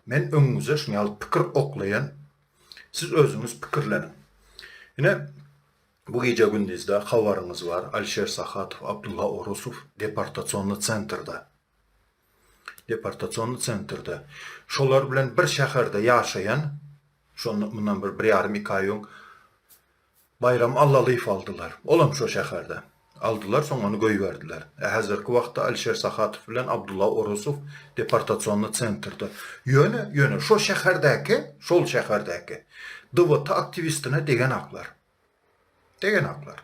Men öňüňize şuny ýaly pikir oklaýan, siz özüňiz pikirleniň. Ine, bu gije-gündizde habaryňyz bar, Alişer Sahatow, Abdulla Orusow deportasionny sentrde. Deportasionny sentrde. Şolar bilen bir şäherde ýaşaýan, şonda, mundan bir, bir ýarym, iki aý öň, Baýram Allalyýew aldylar. Olam şo şäherde. Aldylar, soň ony goýberdiler. Ä häzirki wagtda Alişer Sahatow bilen Abdulla Orosow deportasionny sentrde. Ýöne, ýöne şo şäherdäki, şol şäherdäki DVT aktiwistine degenaklar. Degenaklar.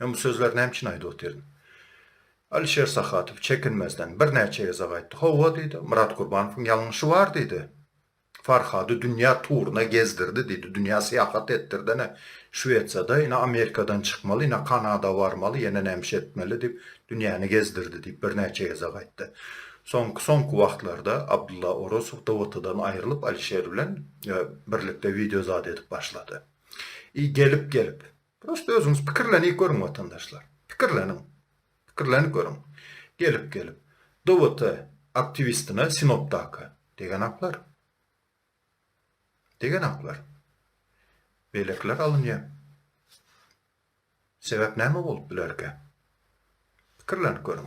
Men bu sözleri näme üçin aýdyp otyryn? Alişer Sahadow çekinmezden birnäçe gezek aýtdy. Hawa, diýdi, Myrat Gurbanowyň ýalňyşy bar, diýdi. Farhady dünýä turuna gezdirdi, diýdi, dünýä syýahat etdirdi-ä. Şwesiýada, ine, Amerikadan çykmaly, ine, Kanada barmaly, ýene nämişe etmeli diýip, dünýäni gezdirdi, diýip, birnäçe gezek aýtdy. Soňky-soňky wagtlarda Abdylla Orazow DWT-dan aýrylyp, Alişer bilen birlikde wideozat edip başlady. I gelip-gelip, Prosta özüňiz pikirlenip görüň watandaşlar. Pikirleniň. Pikirlenip görüň. Gelip gelip. DWT aktiwistine Sinopdaky. Degenaklar. Degenaklar. Beýlekiler alynýa. Sebäp näme bolup bilerkä? Pikirlenip görüň.